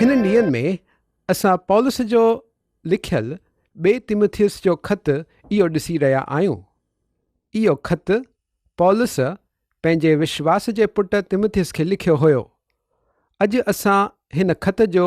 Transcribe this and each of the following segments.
هنن ڏينهن ۾ اسان پولس جو لکيل ٻئي تيموٿيوس جو خط اهو ڏسي رهيا آهيون. اهو خط پولس پنهنجي وشواس جي پٽ تيموٿيوس کي لکيو هيو. اڄ اسان هن خط جو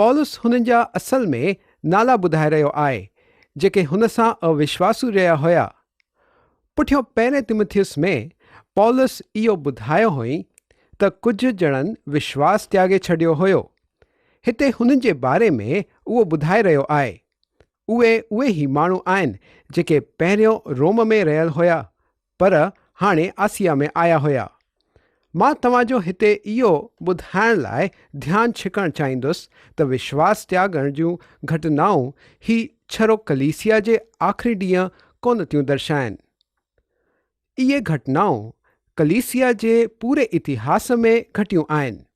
پولس هنن جا اصل ۾ نالا ٻڌائي رهيو آهي، جيڪي هن سان اوشواسو رهيا هيا. پٺيون پهرين تيموٿيوس ۾ پولس اهو ٻڌايو هئي ته ڪجهه ڄڻن وشواس تياڳي ڇڏيو هيو. هتي هنن جي باري ۾ اهو ٻڌائي رهيو آهي. اهي اهي ئي ماڻهو آهن جيڪي پهريون روم ۾ رهيل هيا پر هاڻي آسيا ۾ آيا هيا. مان توهان جو هتي اهو ٻڌائڻ لاء ڌيان ڇڪڻ چاهيندس ته وشواس تياڳڻ جون گهٽنائون هي ڇرو ڪليسيا جي آخري ڏينهن ڪونه ٿيون درشائين. اهي گهٽنائون ڪليسيا جي پوري اتهاس ۾ گهٽيون آهن.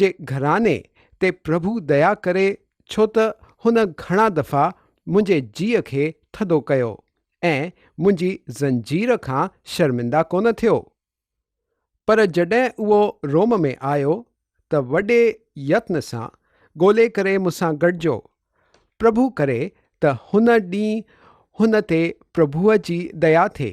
جي گهراڻي تي پرڀو ديا ڪري ڇو ته هن گهڻا دفعا منهنجي جيء کي ٿڌو ڪيو ۽ منهنجي زنجير کان شرمنده ڪونه ٿيو. پر جڏهن اهو روم ۾ آيو ته وڏي يتن سان ڳولي ڪري مون سان گڏجو. پرڀو ڪري ته هن ڏينهن هن تي پرڀوء جي ديا ٿئي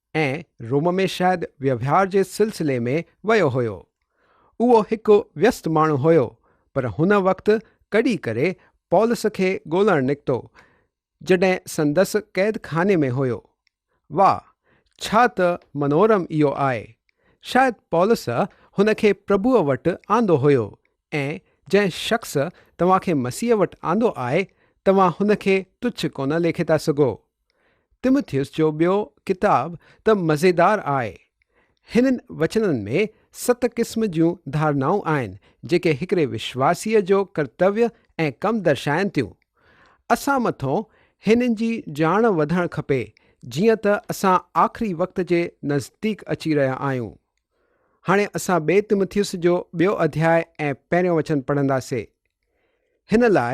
۽ روم ۾ شايد وهنوار جي سلسلي ۾ ويو هيو. اهو هڪ ويست ماڻهو هيو، پر هن وقت ڪڏي ڪري پولس کي ڳولڻ نڪتو، جڏهن سندس قيد خاني ۾ هيو. واهه! ڇا ته منورم اهو آهي! شايد پولس هن کي پرڀوء وٽ آندو هيو، ۽ جنهن شخص توهان کي مسيح وٽ آندو آهي، توهان هن کي تڇ ڪونه ليکي ٿا سگهو. تمٿيوس جو ٻيو ڪتاب ته مزيدار آهي. هنن وچنن ۾ ست قسم جون ڌارنائون آهن جيڪي هڪڙي وشواسيء جو ڪرتويه ۽ ڪم درشائن ٿيون. اسان مٿون هنن جي ڄاڻ وڌڻ کپي جيئن ته اسان آخري وقت جي نزديڪ اچي رهيا آهيون. هاڻي اسان ٻئي تمٿيوس جو ٻيو اڌياء ۽ پهريون وچن پڙهنداسين. هن لاء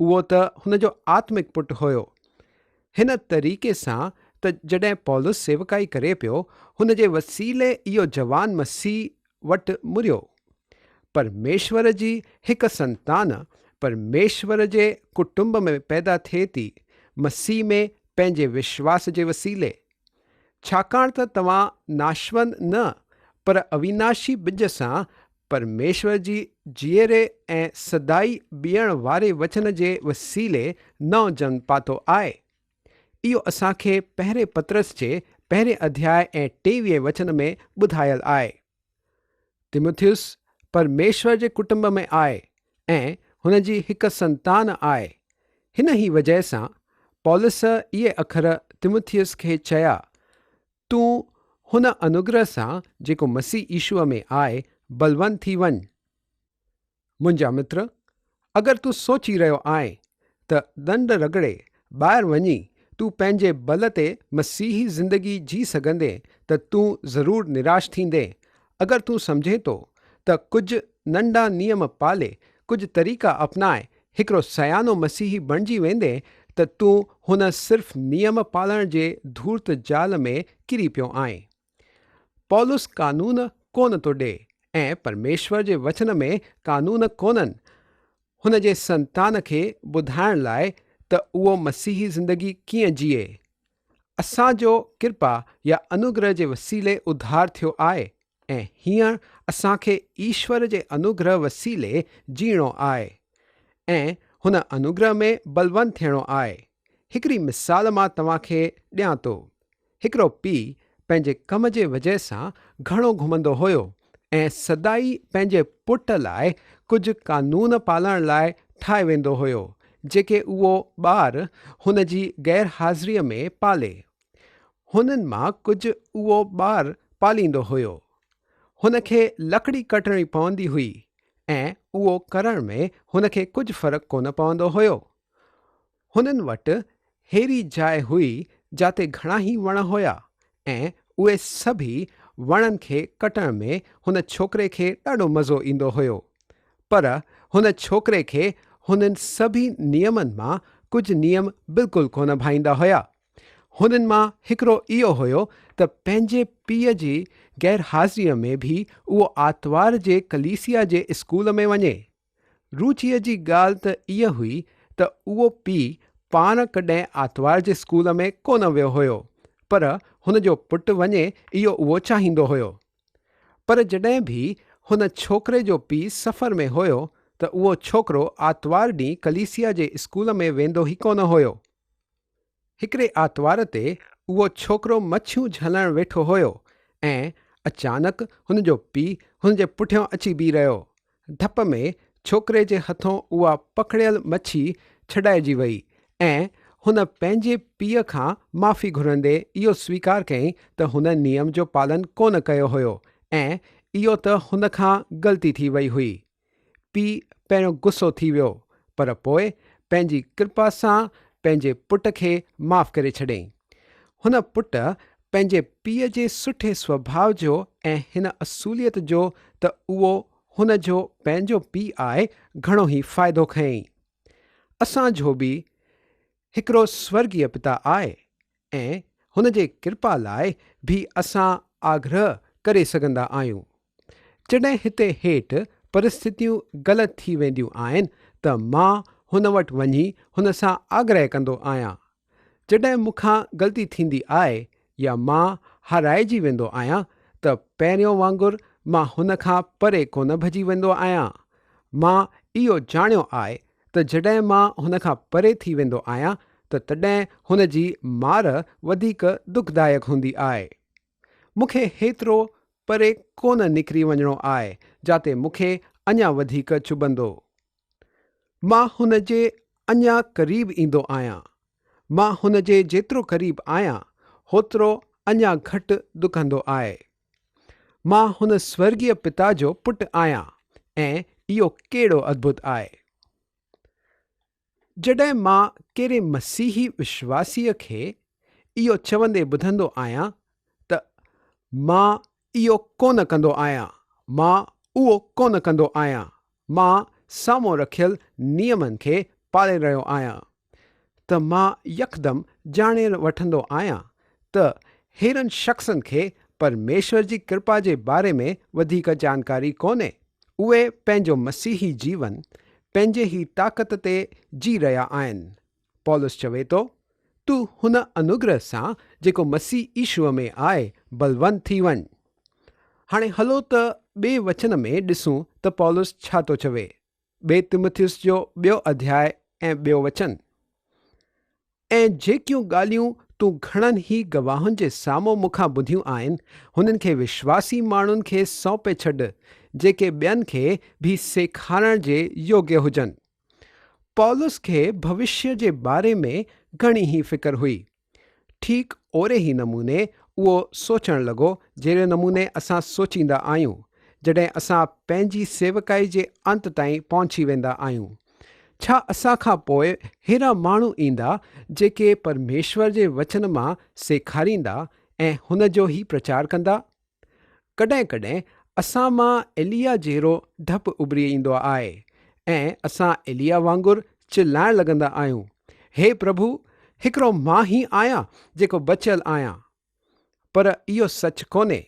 اهو ته هن جو آتمڪ پٽ هيو. هن طريقي سان ته جڏهن پولس سيوڪائي ڪري پيو، هن جي وسيلي اهو جوان مسيح وٽ مريو. پرميشور جي هڪ سنتان پرميشور جي ڪٽنب ۾ پيدا ٿئي ٿي، مسيح ۾ پنهنجي وشواس جي وسيلي. ڇاڪاڻ ته توهان ناشوند نه، پر اويناشي ٻج سان پرميشور جي جيئري ۽ سدائي بيهڻ واري وچن جي وسيلي نئون جنم پاتو آء. اهو اسان کي پهرين پطرس جي پهرين اڌياء ۽ ٽيويهين وچن ۾ ٻڌايل آء. تموٿيوس پرميشور جي ڪٽنب ۾ آء ۽ هن جي هڪ سنتان آء. هن ئي وجهه سان پولس اهي اکر تموٿيوس کي چيا تون هن انوگرهه سان جيڪو مسيح عيشوء ۾ آء بلوند ٿي وڃ. منهنجا متر، اگر تون سوچي رهيو آهين ته ڏنڊ رڳڙي ٻاهر وڃي تون پنهنجي بل تي مسيحي زندگي جي سگهندين ته تون ضرور نراش ٿيندين اگر تون سمجهين ٿو ته ڪجهه ننڍا نيم پالي، ڪجهه طريقا اپنائي هڪڙو سيانو مسيحي بڻجي ويندين ته تون هن صرف نيم پالڻ جي ڌورت جال ۾ ڪري پيو آهين. پولس قانون ڪونه ٿو ڏئي ۽ پرميشور جي وچن ۾ قانون ڪونهن. هن جي سنتان کي ٻڌائڻ لاء ته اهو مسيحي زندگي ڪيئن جيئي. اسان جو ڪرپا يا انوگرهه جي وسيلي اڌار ٿيو آهي ۽ هينئر اسان کي ايشور جي انوگرهه وسيلي جيئڻو آهي ۽ هن انوگرهه ۾ بلوند ٿيڻو آهي. هڪڙي مثال مان توهان کي ڏيان ٿو. هڪڙو پيء پنهنجي ڪم جي وجهه سان گهڻو گهمندو هيو ۽ ۽ سدائي پنهنجي پٽ لاء ڪجهه قانون پالڻ لاء ٺاهي ويندو هيو، جيڪي اهو ٻار هن جي غير حاضريء ۾ پالي. هنن مان ڪجهه اهو ٻار پاليندو هيو. هن کي لڪڙي ڪٽڻي پوندي هئي ۽ اهو ڪرڻ ۾ هن کي ڪجهه فرق ڪونه پوندو هيو. هنن وٽ ههڙي جاء هئي جاتي گهڻائي وڻ هيا ۽ اهي سڀئي وڻن کي ڪٽڻ ۾ هن ڇوڪري کي ڏاڍو مزو ايندو هيو. پر هن ڇوڪري کي هنن سڀئي نيمن مان ڪجهه نيم بلڪل ڪونه ڀائيندا هيا. هنن مان هڪڙو اهو هيو ته پنهنجي پيء جي غيرحاضريء ۾ به اهو آتوار جي ڪليسيا جي اسڪول ۾ وڃي. روچيء جي ڳالهه ته اها هئي ته اهو پيء پاڻ ڪڏهن آتوار جي اسڪول ۾ ڪونه ويو هيو، پر هن جو پٽ وڃي اهو اهو چاهيندو هيو. پر جڏهن به هن ڇوڪري جو پيء سفر ۾ هيو ته اهو ڇوڪرو آتوار ڏينهن ڪليسيا جي اسڪول ۾ ويندو ئي ڪونه هيو. هڪڙي آتوار تي اهو ڇوڪرو مڇيون جهلڻ ويٺو هيو ۽ اچانڪ هن جو پيء هن جي پٺيان اچي بيهي رهيو. ڌپ ۾ ڇوڪري جي هٿون اها پڪڙيل مڇي ڇڏائجي وئي ۽ هن پنهنجي پيء کان معافي گهرندي اهو سويڪار ڪيائين ته هن نيم جو پالن ڪونه ڪيو هيو ۽ اهو ته هن کان غلطي ٿي وئي هئي. پيء پهريون غصو ٿي ويو پر پوء پنهنجي ڪرپا سان پنهنجي پٽ کي معاف ڪري ڇڏيائين. هن پٽ پنهنجي پيء جي سٺي سوڀاء جو ۽ هن اصوليت جو ته اهو هن جو پنهنجو پيء آهي گهڻو ئي فائدو کنيائين. اسان جو به هڪڙو سورڳيه پتا آهي ۽ هن جي ڪرپا لاء به اسان آگرهه ڪري سگهندا آهيون. جڏهن هتي هيٺ پرستتيون غلط ٿي وينديون آهن ته مان هن وٽ وڃي هن سان آگرهه ڪندو آهيان. جڏهن مون کان غلطي ٿيندي آهي يا مان هارائجي ويندو آهيان ته پهريون وانگر مان هن کان پري ڪونه ڀڄي ويندو آهيان. مان اهو ڄاڻيو آهي ته جڏهن مان هن کان پري ٿي ويندو آهيان ته تڏهن هن جي مار وڌيڪ دکدائڪ هوندي آهي. مون کي هيترو پري ڪونه نڪري وڃڻو آء جاتي مون کي اڃا وڌيڪ چڀندو. مان هن جي اڃا قريب ايندو آهيان. مان هن جي جيترو قريب آهيان هوترو اڃا گهٽ ڏکندو آء. مان هن سورڳيه پتا جو پٽ آهيان ۽ اهو ڪهڙو اڌڀت آهي. جڏهن مان ڪهڙي مسيحي وشواسيء کي اهو چوندي ٻڌندو آهيان ته مان اهو ڪونه ڪندو آهيان، مان اهو ڪونه ڪندو آهيان، مان سامهون رکيل نيمن کي پالي رهيو آهيان، ته مان يڪدم ڄاڻي وٺندو آهيان ته هيرن شخصن کي پرميشور جي ڪرپا جي باري ۾ وڌيڪ جانڪاري ڪونهي. اهي پنهنجو مسيحي جيون پنهنجي ئي طاقت تي جي رهيا آهن. پولس چوي ٿو، تون هن انوگرهه سان جيڪو مسيح عيشوء ۾ آهي بلوند ٿي وڃ. هاڻي هلو ته ٻئي وچن ۾ ڏسون ته پولس ڇا ٿو چوي. ٻئي تمٿيوس جو ٻيو اڌياء ۽ ٻيو وچن. ۽ جيڪيون ڳالهيون تون گهڻن ئي گواهن جي سامهون مون کان ٻڌيون آهن، هنن کي وشواسي ماڻهن کي سونپي ڇڏ، جيڪي ٻين کي به سيکارڻ جي يوگيه هجن. پولس کي ڀوشيه جي باري ۾ گهڻي ئي فڪر هئي. ٺيڪ اوري ئي نموني اهو سوچڻ لڳو جهڙي نموني اسان سوچيندا آهيون جڏهن اسان پنهنجي سيوڪائي جي انت تائين پهچي ويندا آهيون. ڇا اسان کان پوء ههڙا ماڻهو ايندا جيڪي پرميشور جي وچن مان سيکاريندا ۽ هن جو ئي پرچار ڪندا؟ ڪڏهن ڪڏهن اسان مان ايليا جهڙو ڊپ اڀري ايندو آهي ۽ اسان ايليا وانگر چلائڻ لڳندا آهيون، هي پرڀو، هڪڙو مان ئي آهيان جيڪو بچيل آهيان. پر اهو سچ ڪونهي.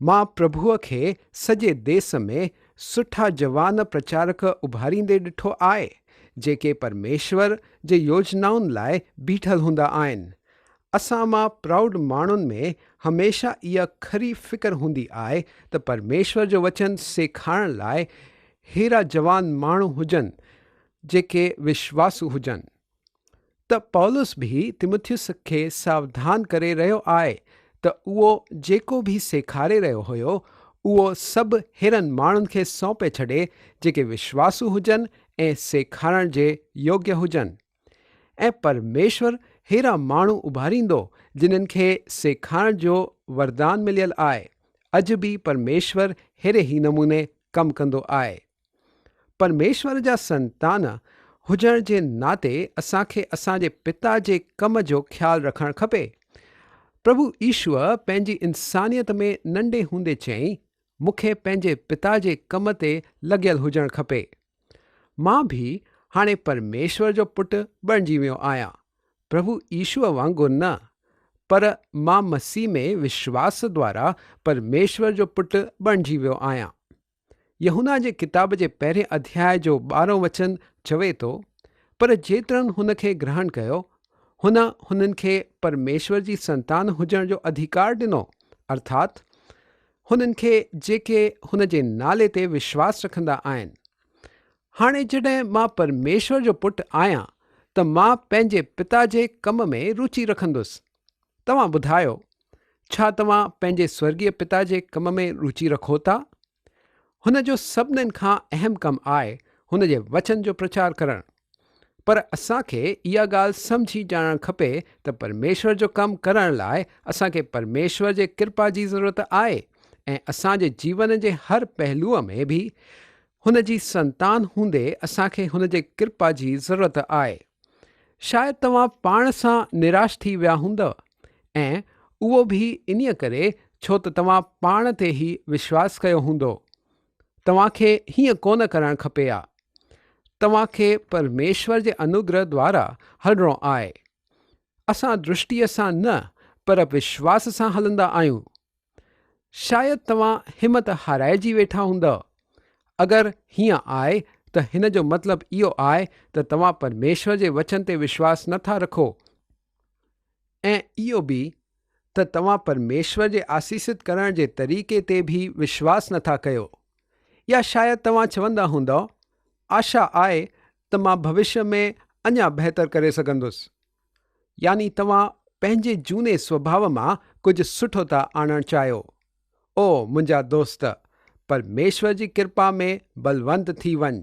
مان پرڀوء کي سڄي ديس ۾ سٺا جوان پرچارڪ اڀاريندي ڏٺو آهي، جيڪي پرميشور جي يوجنائن لاء بيٺل هوندا آهن. اسان مان پرائوڊ ماڻهن ۾ هميشه اها کري فڪر هوندي آهي ته پرميشور جو وچن سيکارڻ لاء ههڙا جوان ماڻهو هجن جيڪي وشواسو هجن. ته پولس به تيموٿيوس کي ساوڌان ڪري رهيو آهي ته اهو جيڪو به سيکاري رهيو هيو اهو سڀ ههڙن ماڻهن کي سونپي ڇڏي جيڪي وشواسو هجن ۽ سيکارڻ جي يوگيه هجن. ۽ پرميشور ههڙا ماڻهو اڀاريندو جنن کي سيکارڻ جو وردان مليل آهي. اڄ به پرميشور ههڙي ئي نموني ڪم ڪندو آهي. پرميشور جا سنتان هجڻ جي ناتي اسان کي اسان جي پتا جي ڪم جو خيال رکڻ کپي. پرڀو ايشوء پنهنجي انسانيت ۾ ننڍي هوندي چيائين، مون کي پنهنجي پتا جي ڪم تي لڳيل هجڻ کپي. مان به هاڻي پرميشور جو پٽ بڻجي ويو آهيان، پرڀو ايشوء وانگر نه، پر مان مسيح ۾ وشواس دوارا پرميشور جو پٽ بڻجي ويو آهيان. يحنا جي ڪتاب جي پهرين اڌياء جو ٻارهون وچن چوي ٿو، پر جيترن هن کي گرهڻ ڪيو، هن هنن کي پرميشور جي سنتان هجڻ جو اڌيڪار ڏنو، ارٿات هنن کي جيڪي هن جي نالي تي وشواس رکندا آهن. هاڻي جڏهن مان پرميشور جو پٽ آهيان ته مان پنهنجي پتا جي ڪم ۾ روچي رکندس. توهان ٻڌايو، ڇا توهان پنهنجي سورڳيه پتا جي ڪم ۾ روچي رکو ٿا؟ هن جو سڀنن کان اهم ڪم آهي هن جي وچن جو پرچار ڪرڻ. پر اسان کي اها ڳالهه سمجهي ڄاڻڻ کپي ته پرميشور جو ڪم ڪرڻ لاء اسان کي پرميشور جي ڪرپا جي ضرورت آهي ۽ اسان جي جيون جي هر پهلوء ۾ به هن جي سنتان هوندي اسان کي هن جي ڪرپا جي ضرورت آهي. شايد توهان پاڻ سان نراش ٿي ويا هوندؤ ۽ اهو به انهيء ڪري ڇو ته توهان پاڻ تي ئي وشواس ڪيو هوندو. توهان کي هيئن ڪونه ڪرڻ کپي ها. توهان کي پرميشور جي انوگره دوارا هلڻو آهي. اسان درشٽيء سان نه پر وشواس سان هلندا آهيون. شايد توهان همت هارائجي ويٺا هوندؤ. اگر هيئن آهي ته هن جو مطلب اهو آهي ته توهان پرميشور جي وچن تي وشواس نه ٿا رکو. ۽ اهو به ته توهان پرميشور جي آسيست ڪرڻ جي طريقي تي به وشواس نٿا ڪيو يا شايد توهان چوندا هوندؤ آشا آهي ته مان ڀوشيه ۾ اڃا بهتر ڪري سگهندس. يعني توهان پنهنجي جهوني سوڀاء مان ڪجهه سٺو ٿا آڻڻ چاهيو. او منهنجا دوست! پرميشور جي ڪرپا ۾ بلوند ٿي وڃ.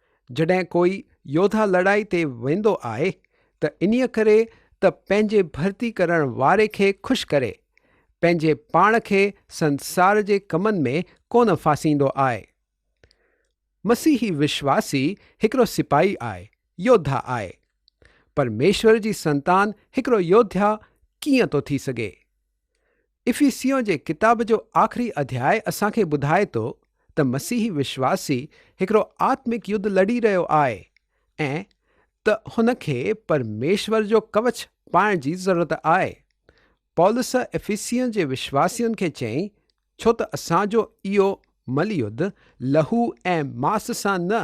جڏهن ڪوئي يوڌا لڙائي تي ويندو آهي ته انهيء ڪري ته پنهنجي ڀرتي ڪرڻ واري کي خوش ڪري، پنهنجي پاڻ کي سنسار جي ڪمن ۾ ڪونه ڦاسيندو آهي. مسيحي وشواسي هڪڙو سپاهي آهي، يوڌا آهي. پرميشور جي سنتان هڪڙو يوڌيا ڪيئن ٿو ٿي سگهي؟ افيسيون جي ڪتاب جو آخري اڌياء اسان کي ٻڌائي ٿو ته مسيحي وشواسي هڪڙو آتمڪ يڌ لڙي رهيو آهي ۽ ته هن کي پرميشور جو ڪوچ پائڻ جي ضرورت آهي. پولس افيسين جي وشواسين کي چيائين، ڇو ته اسان جو اهو مليڌ لهو ۽ ماس سان نه،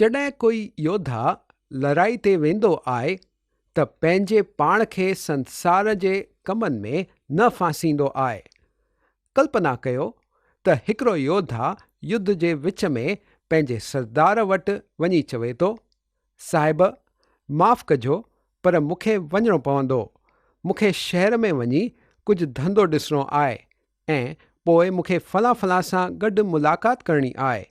جڏهن ڪوئي يوڌا لڙائي تي ويندو آهي ته پنهنجي پاڻ کي سنسار جي ڪمن ۾ نه ڦاسيندو آهي. ڪلپنا ڪيو ته هڪڙو يوڌا يوڌ جي وچ ۾ پنهنجي سردار وٽ وڃي چوي ٿو، صاحب! معاف ڪجو پر مون کي وڃڻو پوندو. مون کي شهر ۾ وڃي ڪجهه ڌنڌو ڏسڻو آهي. ۽ پوء مون کي فلان فلان سان گڏ ملاقات ڪرڻي آء،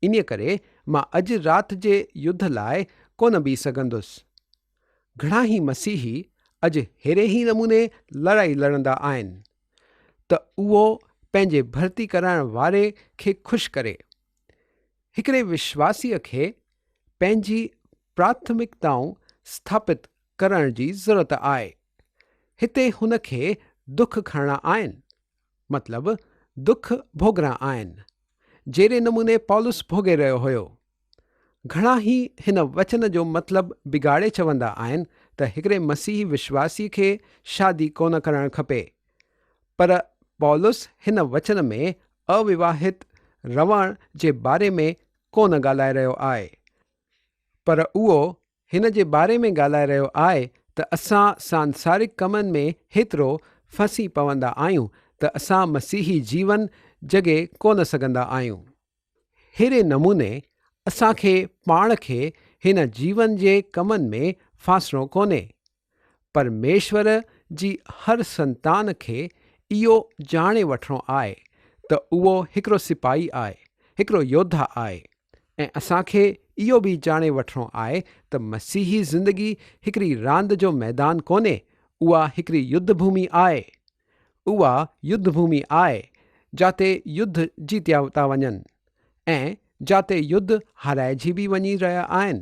انهيء ڪري مان اڄ رات جي يڌ لاء ڪونه بيهه سگهندس. گهڻاهي مسيحي اڄ ههڙي ئي نموني لڙائي لڙندا آهن، ته اهو پنهنجي ڀرتي ڪرائڻ واري کي خوش ڪري. هڪڙي وشواسيء کي پنهنجي پراٿمڪتائون سٿاپت ڪرڻ جي ضرورت آهي. هتي هن کي دک کڻڻا آهن. مطلب دک ڀوڳڻا آهن. جهڙي نموني پولس ڀوڳي رهيو هيو. گهڻا هي هن وچن جو مطلب بگاڙي چوندا آهن ته هڪڙي مسيحي وشواسي کي شادي ڪونه ڪرڻ کپي. پر پولس هن وچن ۾ اوواهت رهڻ جي باري ۾ ڪونه ڳالهائي رهيو آهي. پر اهو هن جي باري ۾ ڳالهائي رهيو آء ته اسان سانسارڪ ڪمن ۾ هيترو ڦسي پوندا آهيون ته اسان مسيحي جيون جڳي ڪونه سگهندا آهيون. ههڙي نموني اسان کي پاڻ کي هن جيون جي ڪمن ۾ ڦاسڻو ڪونهي. پرميشور جي هر سنتان کي اهو ڄاڻي وٺڻو آهي ته اهو هڪڙو سپاهي آهي، هڪڙو يوڌا آهي ۽ اسان کي اهو به ڄاڻي وٺڻو آهي ته مسيحي زندگي هڪڙي راند جو ميدان ڪونهي، اها هڪڙي يڌ ڀومي آهي. اها يڌ ڀومي آهي جاتي يڌ جيتيا ٿا وڃن ۽ جاتي يڌ هارائجي به وڃي رهيا آهن.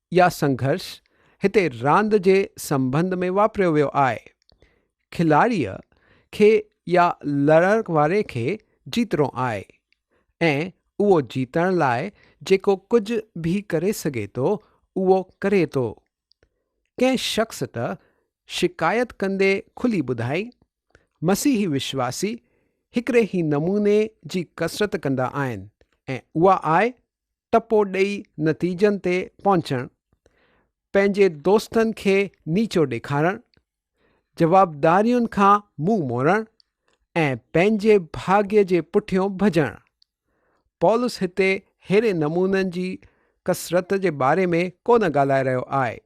يا سنگهرش هتي راند جي سنبنڌ ۾ واپريو ويو آهي. کلاڙيء کي يا لڙڻ واري کي جيتڻو آهي ۽ اهو جيتڻ لاء جيڪو ڪجهه به ڪري سگهي ٿو اهو ڪري ٿو. ڪنهن شخص ته شڪايت ڪندي کلي ٻڌائين، مسيحي وشواسي هڪڙي ئي نموني جي ڪسرت ڪندا آهن ۽ اها آهي ٽپو ڏئي نتيجن تي پهچڻ، پنهنجي دوستن کي نيچو ڏيکارڻ، جوابدارين کان منهن موڙڻ ۽ پنهنجي ڀاڳي جي پٺيون ڀڄڻ. پولس هتي ههڙي نمونن جي ڪثرت جي باري ۾ ڪونه ڳالهائي رهيو آهي.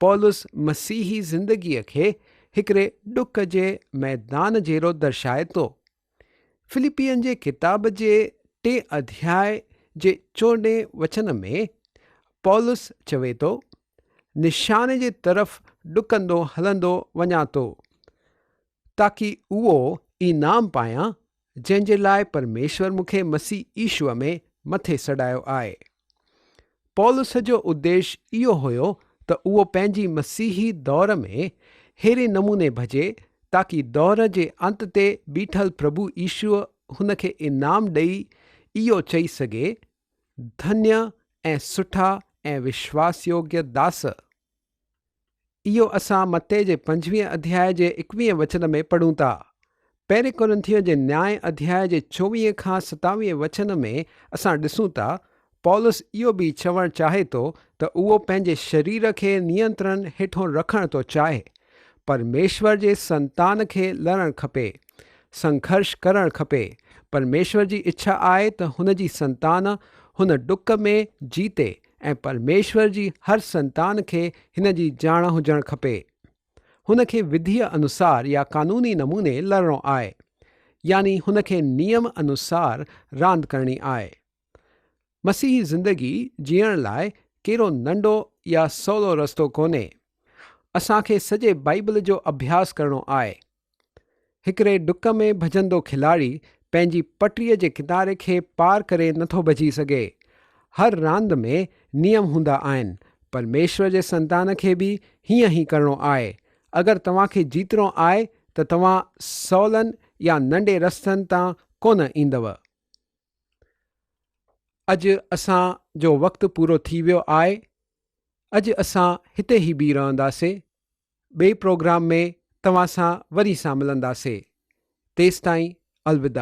پولس مسيحي زندگيء کي هڪڙي ڏک جي ميدان جهڙو درشائي ٿو. فلپين جي ڪتاب جي ٽئين اڌياء جي چوڏهين وچن ۾ پولس چوي ٿو، نشاني جي طرف ڏڪندو هلندو وڃان ٿو، تاڪي اهو انعام پايان، جنهن جي لاء پرميشور مون کي مسيح عيسو ۾ مٿي سڏايو آهي. پولس جو اديش اهو هيو ته اهو پنهنجي مسيحي دور ۾ ههڙي نموني ڀڄي تاڪي دور جي انت تي بيٺل پرڀو عيسو هن کي انعام ڏئي اهو چئي سگهي، ڌنيء ۽ سٺا ۽ وشواس يوگيه داس! اهو اسان متي جي پنجويهه اڌياء جي ايڪويهه وچن ۾ پڙهون ٿا. پهرين ڪورنٿيون جي نياء اڌياء جي چوويهه کان ستاويهه وچن ۾ اسان ڏسون ٿا پولس اهو به چوڻ چاهي ٿو ته اهو پنهنجي شرير کي نينترڻ هيٺون رکڻ ٿو چاهي. پرميشور جي سنتان کي لڙڻ کپي. سنگهرش ڪرڻ کپي. پرميشور جي اڇا آهي ته هن جي سنتان هن ڊڪ ۾ جيتي ۽ پرميشور جي هر سنتان کي هن جي ڄاڻ هجڻ کپي. هن کي وڌيء انوسار يا قانوني نموني لڙڻو آهي. يعني هن کي نيم انوسار راند ڪرڻي آهي. مسيحي زندگي جيئڻ لاء ڪيرو ننڍو يا سولو رستو ڪونهي. اسان کي سڄي بائيبل جو اڀياس ڪرڻو آهي. هڪڙي ڊڪ ۾ ڀڄندو کلاڙي پنهنجي پٽڙي جي ڪناري کي پار ڪري نٿو ڀڄي سگهي. هر راند ۾ نيم هوندا آهن. پرميشور جي سنتان کي به هيئن ئي ڪرڻو آهي. اگر توهان کي جيتڻو آهي ته توهان سولن يا ننڊي رستن تان ڪونه ايندؤ. اڄ اسان جو وقت پورو ٿي ويو آهي. اڄ اسان هتي ئي بيهي رهنداسين. ٻئي پروگرام ۾ توهان سان وري سان ملنداسي تيستائين الوداع.